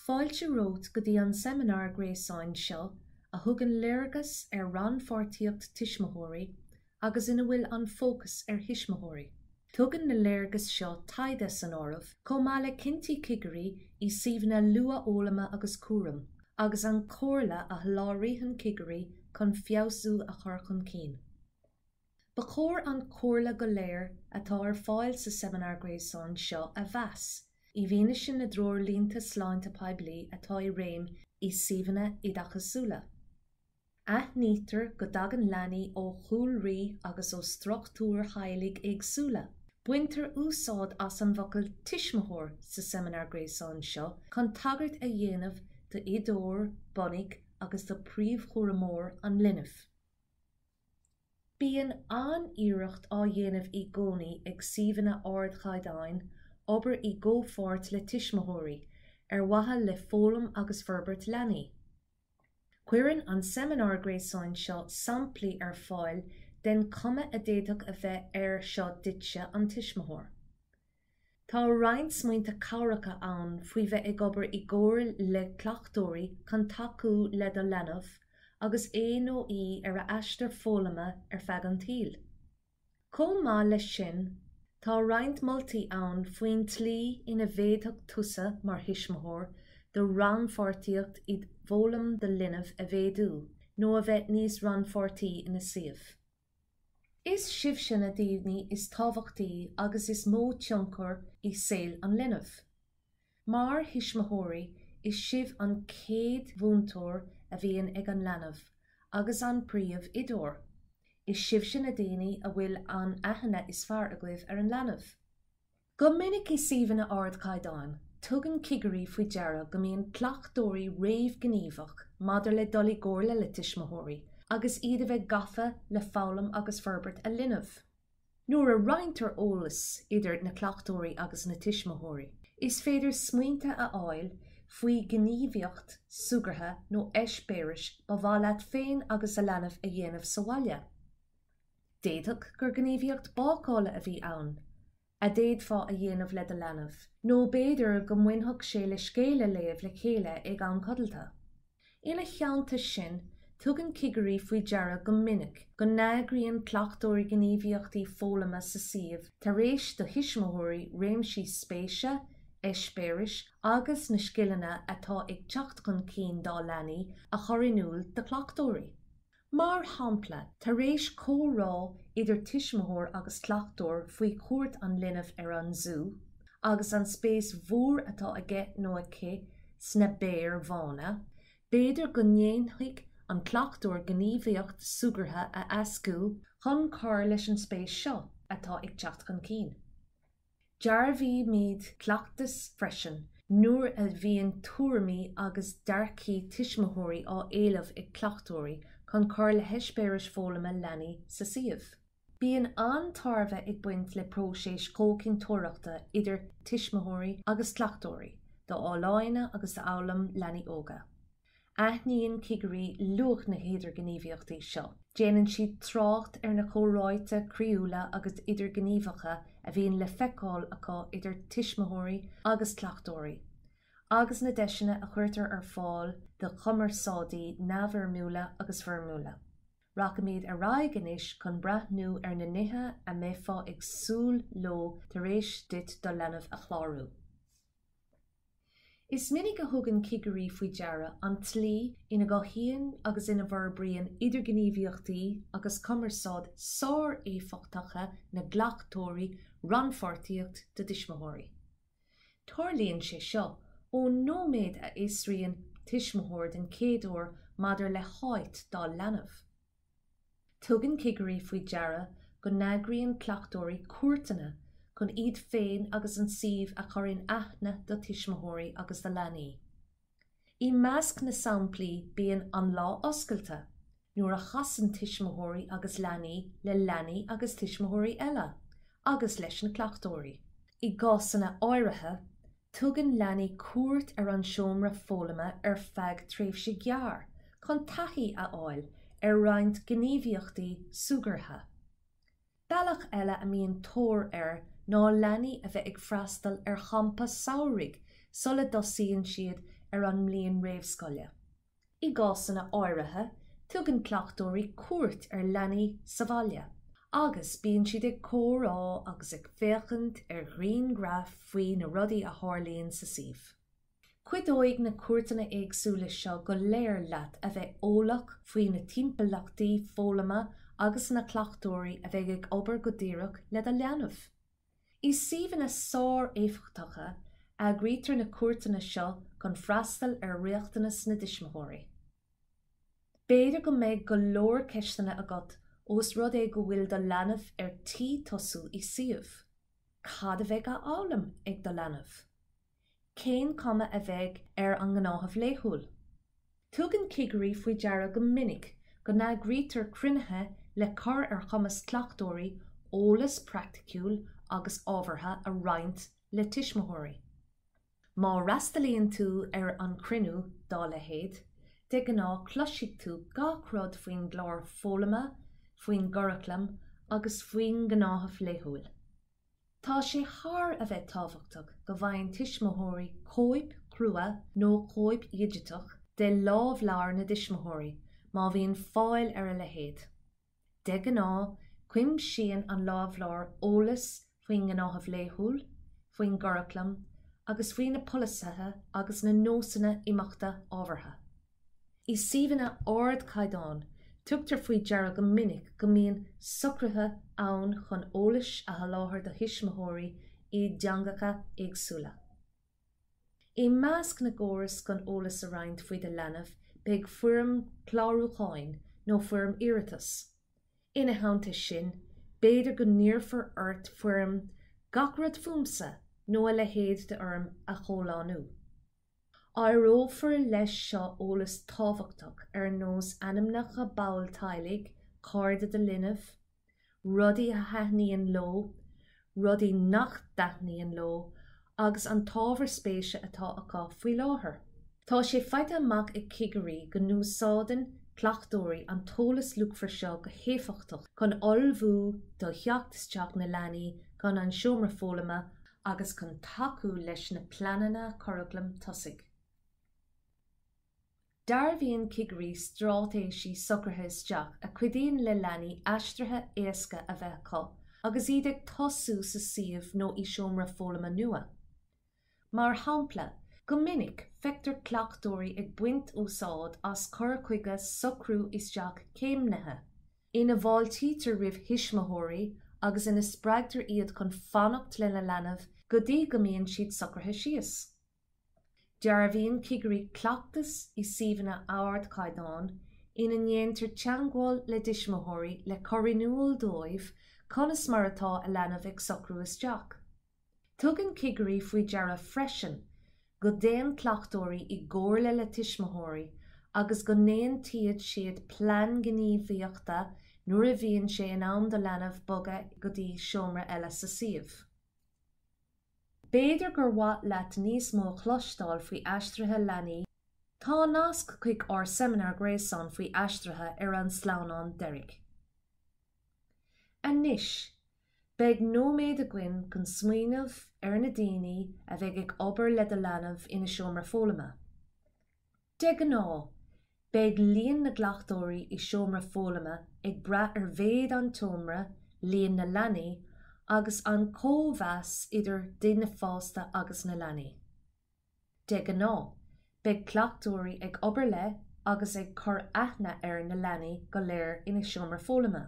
Fáilte romhat go dtí an seimineár gréasáin seo a thugann léargas ar rannpháirtíocht tuismitheoirí agus ina bhfuil an fócas ar thuismitheoirí. Tugann na léargas seo taighde san áireamh, chomh maith le cinntí cigirí i suíomhanna luathfhoghlama agus cúraim, agus an chomhairle a sholáthraíonn cigirí chun feabhsú a chur chun cinn. Ba chóir an chomhairle go léir atá ar fáil sa seimineár gréasáin seo a mheas, i bhfianaise na dtreoirlínte sláinte poiblí atá i réim i suíomhanna oideachasúla. Aithnítear go dtagann leanaí ó chúlraí agus ó struchtúir theaghlaigh éagsúla. Baintear úsáid as an bhfocal 'tuismitheoir' sa seimineár gréasáin seo chun tagairt a dhéanamh d'oideoir bunaidh agus do príomhchúramóir an linbh. Bíonn an-iarracht á dhéanamh í gcónaí ag suíomhanna ardchaighdeáin obair i gcomhpháirt le tuismitheoirí, ar mhaithe le foghlaim agus forbairt leanaí. Cuireann an seimineár gréasáin seo samplaí ar fáil den chuma a d'fhéadfadh a bheith air seo duitse, an tuismitheoir. Tá roinnt smaointe cabhracha ann faoi bheith ag obair i gcomhar le cleachtóirí chun tacú le do leanbh agus é nó í ar a aistear foghlama ar feadh an tsaoil. Chomh maith leis sin, tá roinnt moltaí ann faoin tslí ina bhféadfadh tusa mar thuismitheoir do rannpháirtíocht i bhfoghlaim do linbh a mhéadú nó a bheith níos rannpháirtí ina suíomh. Is sibhse na daoine is tábhachtaí agus is mó tionchar i saol an linbh. Mar thuismitheoirí, is sibh an chéad mhúinteoir a bhíonn ag an leanbh, agus an príomhoideoir. Is sibhse na daoine a bhfuil an aithne is fearr agaibh ar an leanbh. Go minic i suíomhanna ardchaighdeáin, tugann cigirí faoi deara go mbíonn cleachtóirí réamhghníomhach maidir le dul i gcomhairle le tuismitheoirí agus iad a bheith gafa le foghlaim agus forbairt a linbh. Nuair a roinntear eolas idir na cleachtóirí agus na tuismitheoirí, is féidir smaointe a fháil faoi ghníomhaíocht súgartha nó eispéiris ba mhaith leat féin agus a leanbh a dhéanamh sa bhaile. D'fhéadfadh gur gníomhaíocht bácála a bhí ann a d'fhéadfá a dhéanamh le do leanbh, nó b'fhéidir go mbainfeadh sé le scéal a léamh le chéile ag am codlata. Ina theannta sin, tugann cigirí faoi deara go minic go n-eagraíonn cleachtóirí gníomhaíochtaí foghlama sa suíomh tar éis do thuismitheoirí réimsí spéise, eispéiris agus na scileanna atá ag teacht chun cinn dá leanaí a chur in iúl do chleachtóirí. Mar shampla, tar éis comhrá idir tuismitheoir agus cleachtóir faoi chuairt an linbh ar an zú agus an spéis mhór atá aige nó aici sna béir bhána, b'fhéidir go ndéanfaidh an cleachtóir gníomhaíocht súgartha a eascú chun cur leis an spéis seo atá ag teacht chun cinn. Dearbhaímid cleachtas freisin nuair a bhíonn tuairimí agus dearcthaí tuismitheoirí á éileamh ag cleachtóirí chun cur le heispéiris foghlama leanaí sa suíomh. Bíonn an-tairbhe ag baint le próiseas comhchinnteoireachta idir tuismitheoirí agus cleachtóirí d'fholláine agus d'fhoghlaim leanaí óga. Aithníonn cigirí luach na hidirghníomhaíochtaí seo. Déanann siad trácht ar na comhráite croíúla agus idirghníomhacha a bhíonn le feiceáil acu idir tuismitheoirí agus cleachtóirí, agus na deiseanna a chuirtear ar fáil do chumarsáidí neamhfhoirmiúla agus foirmiúla. Rachaimid ar aghaidh anois chun breathnú ar na nithe a mbeifeá ag súil leo tar éis duit do leanbh a chlárú. Is minic a thugann cigirí faoi deara an tslí ina gcothaíonn agus ina bhforbraíonn idirghníomhaíochtaí agus cumarsáid sár-éifeachtacha na gcleachtóirí rannpháirtíocht na dtuismitheoirí. Tarlaíonn sé seo ón nóiméad a fhiosraíonn tuismitheoir den chéad uair maidir le háit dá leanbh. Tugann cigirí faoi deara go n-eagraíonn cleachtóirí cuairteanna chun iad féin agus an suíomh a chur in aithne do tuismitheoirí agus do leanaí. I measc na samplaí bíonn 'An Lá Oscailte', nuair a chasann tuismitheoirí agus leanaí le leanaí agus tuismitheoirí eile, agus leis na cleachtóirí. I gcásanna áirithe, Tugann leanaí cuairt ar an seomra foghlama ar feadh tréimhse gearr chun taithí a fháil ar roinnt gníomhaíochtaí súgartha. Bealach eile a mbíonn tóir air ná leanaí a bheith ag freastal ar champa samhraidh sula dtosaíonn siad ar an mbliain réamhscoile. I gcásanna áirithe tugann cleachtóirí cuairt ar leanaí sa bhaile agus bíonn siad ag comhrá agus ag féachaint ar ghrianghraif faoi na rudaí a tharlaíonn sa suíomh. Cuideoidh na cuairteanna éagsúla seo go léir leat a bheith eolach faoi na timpeallachtaí foghlama agus na cleachtóirí a bheidh ag obair go díreach le do leanbh. I suíomhanna sár-éifeachtacha, eagraítear na cuairteanna seo chun freastal ar riachtanas na dtuismitheoirí. B'fhéidir go mbeidh go leor ceisteanna agat ós rud é go bhfuil do leanbh ar tí tosú i suíomh. Cad a bheidh á fhoghlaim ag do leanbh? cén chuma a bheidh ar an ngnáthamh laethúil? Tugann cigirí faoi deara go minic go n-eagraítear cruinnithe le cur ar chumas cleachtóirí eolas praiticiúil agus ábhartha a roinnt le tuismitheoirí. Má fhreastalaíonn tú ar an gcruinniú dá leithéid, de ghnáth cloisfidh tú gach rud faoin gclár foghlama, faoin gcuraclam agus faoin ngnáthamh laethúil. Tá sé thar a bheith tábhachtach go bhfaigheann tuismitheoirí cóip chrua nó cóip dhigiteach de lámhleabhar na dtuismitheoirí, má bhíonn fáil ar a leithéid. De ghnáth, cuimsíonn an lámhleabhar eolas faoin ngnáthamh laethúil, faoin gcuraclam agus faoi na polasaithe agus na nósanna imeachta ábhartha. I suíomhanna ardchaighdeáin, tugtar faoi deara go minic go mbíonn socruithe ann chun eolas a sholáthar do thuismitheoirí i dteangacha éagsúla. I measc na gcóras chun eolas a roinnt faoi do leanbh beidh foirm chlárúcháin nó foirm iarratais. Ina theannta sin, b'fhéidir go n-iarrfar ort foirm 'Gach rud fúmsa' nó a leithéid d'fhoirm a chomhlánú. Áireofar leis seo eolas tábhachtach ar nós ainmneacha ball teaghlaigh, cairde do linbh, rudaí a thaitníonn leo, rudaí nach dtaitníonn leo agus an t-ábhar spéise atá acu faoi láthair. Tá sé faighte amach ag cigirí go n-úsáideann cleachtóirí an t-eolas luachmhar seo go héifeachtach chun ullmhú do theacht isteach na leanaí don seomra foghlama agus chun tacú leis na pleananna curaclaim tosaigh. Dearbhaíonn cigirí straitéisí socraithe isteach a chuidíonn le leanaí aistrithe éasca a bheith acu agus iad ag tosú sa suíomh nó i seomra foghlama nua. Mar shampla, go minic, feictear cleachtóirí ag baint úsáid as cur chuige socrú isteach céimnithe, ina bhfáiltítear roimh thuismitheoirí agus ina spreagtar iad chun fanacht lena leanbh go dtí go mbíonn siad socraithe síos. Dearbhaíonn cigirí cleachtas i suíomhanna ardchaighdeáin ina ndéantar teagmháil le tuismitheoirí le cur in iúl dóibh conas mar atá a leanbh ag socrú isteach. Tugann cigirí faoi deara freisin go dtéann cleachtóirí i gcomhairle le tuismitheoirí agus go n-aontaíonn siad plean gníomhaíochta nuair a bhíonn sé in am do leanbh bogadh go dtí seomra eile sa suíomh. B'fhéidir gur mhaith leat níos mó a chloisteáil faoi aistrithe leanaí, tá nasc chuig ár seimineár gréasáin faoi aistrithe ar an sleamhnán deiridh. Anois, beidh nóiméad againn chun smaoineamh ar na daoine a bheidh ag obair le do leanbh ina seomra foghlama. De ghnáth, beidh líon na gcleachtóirí i seomra foghlama ag brath ar mhéid an tseomra, líon na leanaí, agus an cóimheas idir daoine fásta agus na leanaí. De ghnáth, beidh cleachtóirí ag obair le agus ag cur aithne ar na leanaí go léir ina seomra foghlama.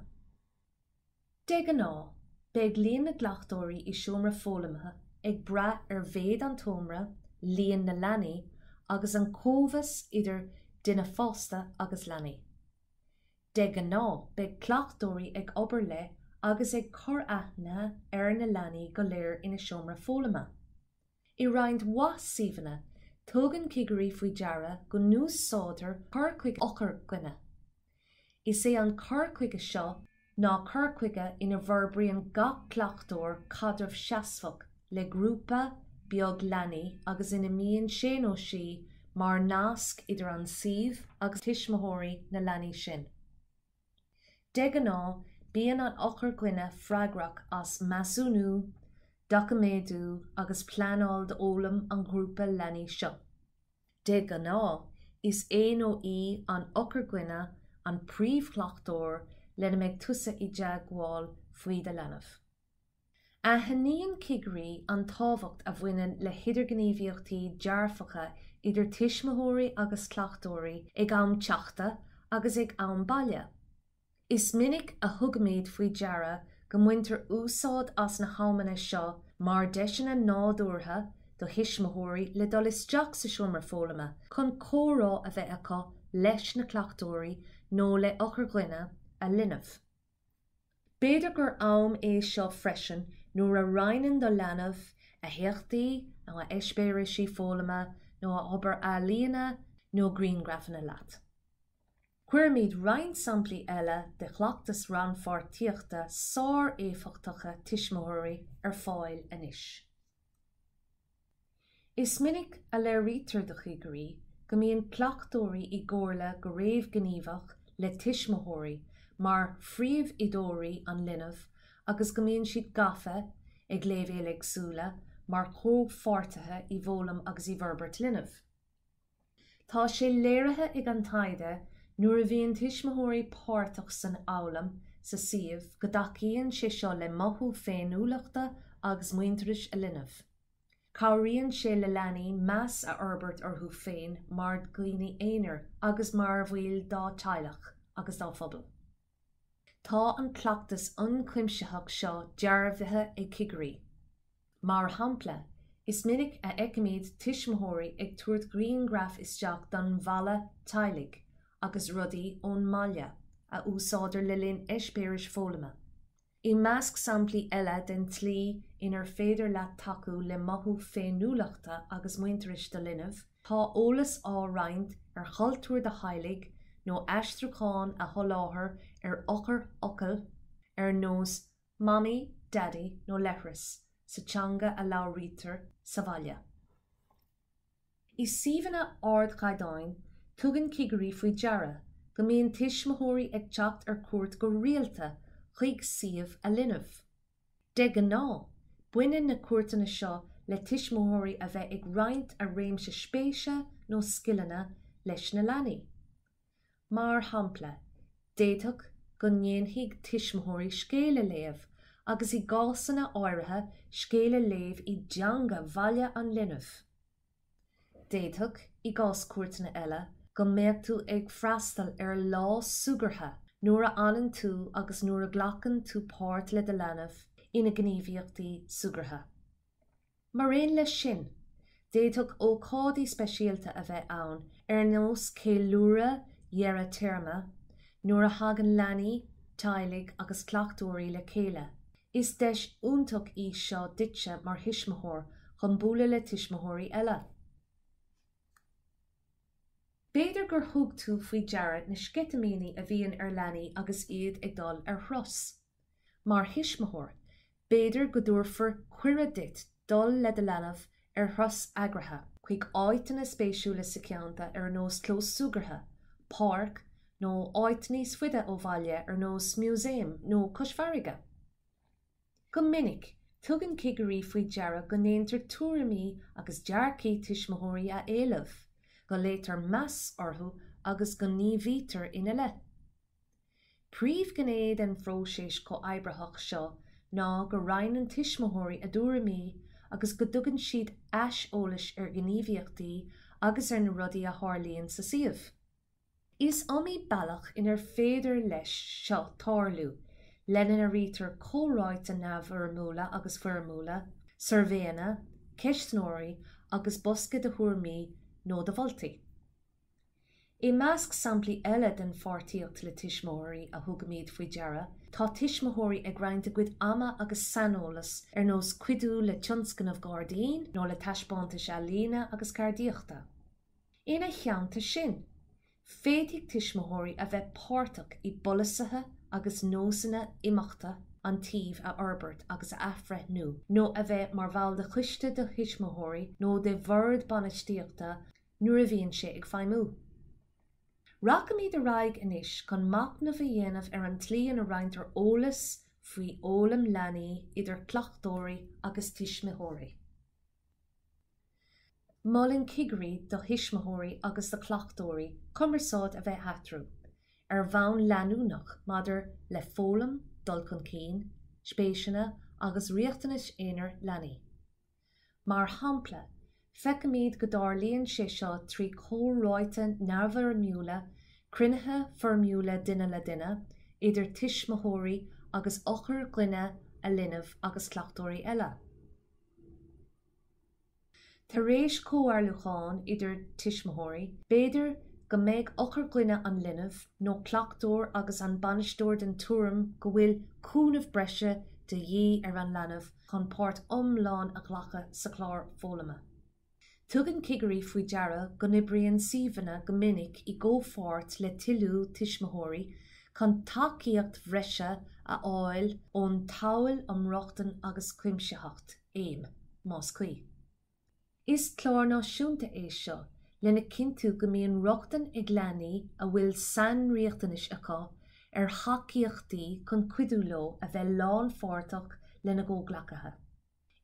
De ghnáth, beidh líon na gcleachtóirí i seomra foghlama ag brath ar mhéid an tseomra, líon na leanaí, agus an cóimheas idir daoine fásta agus leanaí. De ghnáth, beidh cleachtóirí ag obair le agus ag cur aithne ar na leanaí go léir ina seomra foghlama. I roinnt mhaith suíomhanna, tugann cigirí faoi deara go n-úsáidtear cur chuige eochair-dhuine. Is é an cur chuige seo ná cur chuige ina bhforbraíonn gach cleachtóir caidreamh seasmhach le grúpa beag leanaí agus ina mbíonn sé nó sí mar nasc idir an suíomh agus tuismitheoirí na leanaí sin. De ghnáth, bíonn an eochair-dhuine freagrach as measúnú, doiciméadú agus pleanáil d'fhoghlaim an ghrúpa leanaí seo. De ghnáth, is é nó í an eochair-dhuine an príomhchleachtóir lena mbeidh tusa i dteagmháil faoi do leanbh. Aithníonn cigirí an tábhacht a bhaineann le hidirghníomhaíochtaí dearfacha idir tuismitheoirí agus cleachtóirí ag am teachta agus ag am baile. Is minic a thugaimid faoi deara go mbaintear úsáid as na hamanna seo mar deiseanna nádúrtha do thuismitheoirí le dul isteach sa seomra foghlama chun comhrá a bheith acu leis na cleachtóirí nó le heochair-dhuine a linbh. B'fhéidir gur am é seo freisin nuair a roinneann do leanbh a héachtaí nó a heispéiris foghlama nó a obair ealaíne nó grianghrafanna leat. Cuirimid roinnt samplaí eile de chleachtais rannpháirtíochta sár-éifeachtacha tuismitheoirí ar fáil anois. Is minic a léirítear do chigirí go mbíonn cleachtóirí i gcomhairle go réamhghníomhach le tuismitheoirí mar phríomhoideoirí an linbh agus go mbíonn siad gafa, ag léibhéil éagsúla, mar chomhpháirtithe i bhfoghlaim agus i bhforbairt linbh. Tá sé léirithe ag an taighde nuair a bhíonn tuismitheoirí páirteach san fhoghlaim sa suíomh go dtacaíonn sé seo le mothú féiniúlachta agus muintearais a linbh. Cabhraíonn sé le leanaí meas a fhorbairt orthu féin mar dhaoine aonair agus mar bhaill dá dteaghlach agus dá bpobal. Tá an cleachtas ionchuimsitheach seo dearbhaithe ag cigirí. Mar shampla, is minic a fheicimid tuismitheoirí ag tabhairt grianghraif isteach don Bhalla Teaghlaigh agus rudaí ón mbaile a úsáidtear le linn eispéiris foghlama. I measc samplaí eile den tslí inar féidir leat tacú le mothú féiniúlachta agus muintearais do linbh, tá eolas á roinnt ar chultúr do theaghlaigh nó aistriúcháin a sholáthar ar eochairfhocail ar nós mamaí, daidí nó leithreas sa teanga a labhraítear sa bhaile. I suíomhanna ardchaighdeáin, tugann cigirí faoi deara go mbíonn tuismitheoirí ag teacht ar cuairt go rialta chuig suíomh a linbh. De ghnáth, baineann na cuairteanna seo le tuismitheoirí a bheith ag roinnt a réimse spéise nó scileanna leis na leanaí. Mar shampla, d'fhéadfadh go ndéanfaidh tuismitheoirí scéal a léamh, agus i gcásanna áirithe scéal a léamh i dteanga bhaile an linbh. D'fhéadfadh, i gcás cuairteanna eile, go mbeadh tú ag freastal ar lá súgartha nuair a fhanann tú agus nuair a ghlacann tú páirt le do leanbh ina ngníomhaíochtaí súgartha. Mar aon leis sin, d'fhéadfadh ócáidí speisialta a bheith ann ar nós ceiliúradh dheireadh téarma, nuair a thagann leanaí, teaghlaigh agus cleachtóirí le chéile. Is deis iontach í seo duitse mar thuismitheoir chun bualadh le tuismitheoirí eile. B'fhéidir gur thug tú faoi deara na sceitimíní a bhíonn ar leanaí agus iad ag dul ar thuras. Mar thuismitheoir, B'fhéidir go dtabharfar cuireadh duit dul le do leanbh ar thuras eagraithe chuig áiteanna spéisiúla sa cheantar ar nós clós súgartha, páirc, nó áiteanna níos faide ó bhaile ar nós músaem nó cois farraige. Go minic, tugann cigirí faoi deara go ndéantar tuairimí agus dearcaí tuismitheoirí a éileamh, go léirítear meas orthu agus go ngníomhaítear ina leith. Príomhghné den phróiseas comhoibritheach seo ná go roinneann tuismitheoirí a dtuairimí agus go dtugann siad aiseolais ar ghníomhaíochtaí agus ar na rudaí a tharlaíonn sa suíomh. Is iomaí bealach inar féidir leis seo tarlú, lena n-airítear comhráite neamhfhoirmiúla agus foirmiúla, suirbhéanna, ceistneoirí agus bosca de thuairmí nó de mholtaí. I measc samplaí eile den pháirtíocht le tuismitheoirí a thugaimid faoi deara tá tuismitheoirí ag roinnt a gcuid ama agus saineolas ar nós cuidiú le tionscnamh gairdín nó le taispeántais ealaíne agus ceardaíochta. Ina theannta sin, féadfaidh tuismitheoirí a bheith páirteach i bpolasaithe agus nósanna imeachta an tsuímh a fhorbairt agus a athbhreithniú nó a bheith mar bhall de choiste de thuismitheoirí nó de bhord bainistíochta nuair a bhíonn sé ag feidhmiú. Rachaimid ar aghaidh anois chun machnamh a dhéanamh ar an tslí ina roinntear eolas faoi fhoghlaim leanaí idir cleachtóirí agus tuismitheoirí. Molann cigirí do thuismitheoirí agus do chleachtóirí cumarsáid a bheith eatarthu ar bhonn leanúnach maidir le foghlaim, dul chun cinn, spéiseanna agus riachtanais aonair leanaí. Mar shampla, feicimid go dtarlaíonn sé seo trí chomhráite neamhfhoirmiúla, cruinnithe foirmiúla duine le duine, idir tuismitheoirí agus eochairdhuine a linbh agus cleachtóirí eile. Tar éis comhairliúcháin idir tuismitheoirí, b'fhéidir go mbeidh eochairdhuine an linbh nó cleachtóir agus an bainisteoir den tuairim go bhfuil cúnamh breise de dhíth ar an leanbh chun páirt iomlán a ghlacadh sa chlár foghlama. Tugann cigirí faoi deara go n-oibríonn suíomhanna go minic i gcomhpháirt le toiliú tuismitheoirí chun tacaíocht bhreise a fháil ón tSamhail um Rochtain agus Cuimsitheacht, AIM, más cuí. Is clár náisiúnta é seo lena cinntiú go mbíonn rochtain ag leanaí a bhfuil sainriachtanais acu ar thacaíochtaí chun cuidiú leo a bheith lánpháirteach lena gcomhghleacaithe.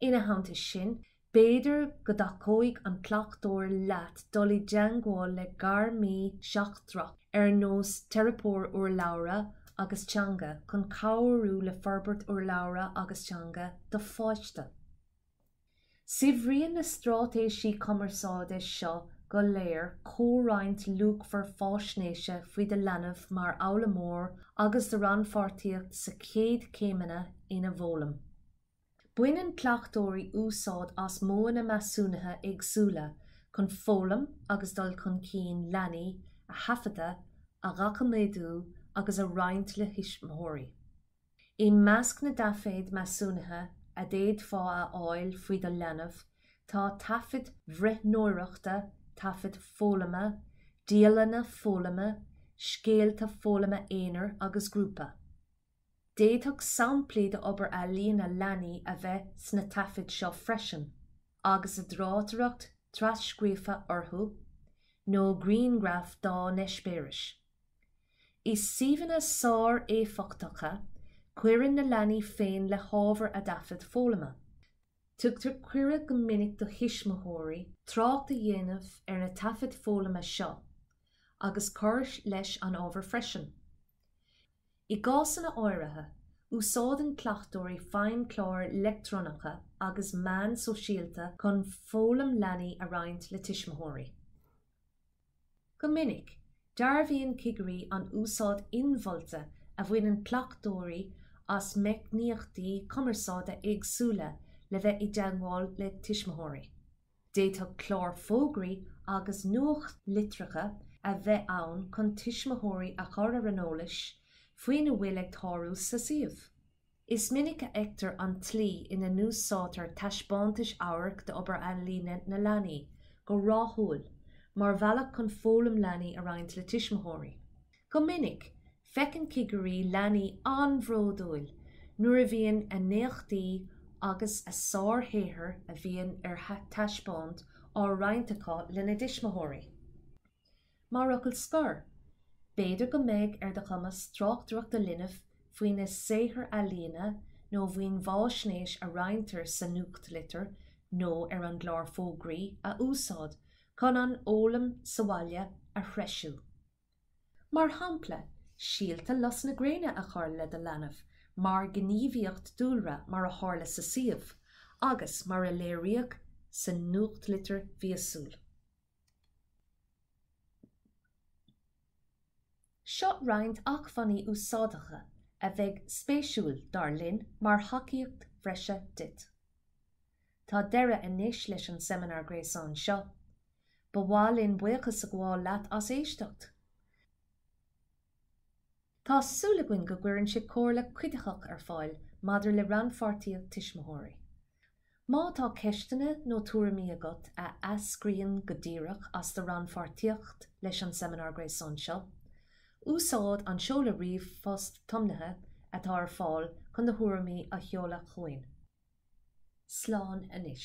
Ina theannta sin, b'fhéidir go dtacóidh an cleachtóir leat dul i dteagmháil le gairmí seachtrach ar nós teiripeoir urlabhra agus teanga chun cabhrú le forbairt urlabhra agus teanga do pháiste. Saibhríonn na straitéisí cumarsáide seo go léir comhroinnt luachmhar faisnéise faoi do leanbh mar fhoghlaimeoir agus do rannpháirtíocht sa chéad chéimeanna ina bhfoghlaim. Baineann cleachtóirí úsáid as modhanna measúnaithe éagsúla chun foghlaim agus dul chun cinn leanaí a thaifeadadh, a dhoiciméadú agus a roinnt le thuismitheoirí. I measc na dtaifead measúnaithe a d'fhéadfá a fháil faoi do leanbh tá taifid bhreathnóireachta, taifid foghlama, dialanna foghlama, scéalta foghlama aonair agus grúpa. D'fhéadfadh samplaí d'obair ealaíne leanaí a bheith sna taifid seo freisin, agus a dtráchtaireacht trascríofa orthu, nó grianghraif dá n-eispéiris. I suíomhanna sáréifeachtacha, cuireann na leanaí féin le hábhar a dtaifead foghlama. Tugtar cuireadh go minic do thuismitheoirí trácht a dhéanamh ar na taifid foghlama seo agus cur leis an ábhar freisin. I gcásanna áirithe, úsáideann cleachtóirí feidhmchláir leictreonacha agus meáin shóisialta chun foghlaim leanaí a roinnt le tuismitheoirí. Go minic, dearbhaíonn cigirí an úsáid inmholta a bhaineann cleachtóirí as meicníochtaí cumarsáide éagsúla le bheith i dteagmháil le tuismitheoirí. D'fhéadfadh cláir fógraí agus nuachtlitreacha a bheith ann chun tuismitheoirí a chur ar an eolas faoina bhfuil ag tarlú sa suíomh. Is minic a fheictear an tslí ina n-úsáidtear taispeántais amhairc d'obair ealaíne na leanaí, go rathúil, mar bhealach chun foghlaim leanaí a roinnt le tuismitheoirí. Go minic, feiceann cigirí leanaí an-bhródúil nuair a bhíonn a n-éachtaí agus a sárshaothair a bhíonn ar thaispeáint á roinnt acu lena dtuismitheoirí. Mar fhocal scor, b'fhéidir go mbeidh ar do chumas tráchtaireacht do linbh faoina saothar ealaíne nó faoin bhfaisnéis a roinntear sa nuachtlitir nó ar an gclár fógraí a úsáid chun an fhoghlaim sa bhaile a threisiú. Mar shampla, síolta lus na gréine a chur le do leanbh mar ghníomhaíocht dúlra mar a tharla sa suíomh agus mar a léiríodh sa nuachtlitir mhíosúil. Seo roinnt acmhainní úsáideacha a bheidh spéisiúil, dar linn, mar thacaíocht bhreise duit. Tá deireadh anois leis an seimineár gréasáin seo. Ba mhaith linn buíochas a ghabháil leat as éisteacht. Tá súil againn go gcuireann sé comhairle cuiditheach ar fáil maidir le rannpháirtíocht tuismitheoirí. Má tá ceisteanna nó tuairimí agat a eascraíonn go díreach as do rannpháirtíocht leis an seimineár gréasáin seo, úsáid an seoladh ríomhphost tiomnaithe atá ar fáil chun do thuairimí a sheoladh chugainn. Slán anois.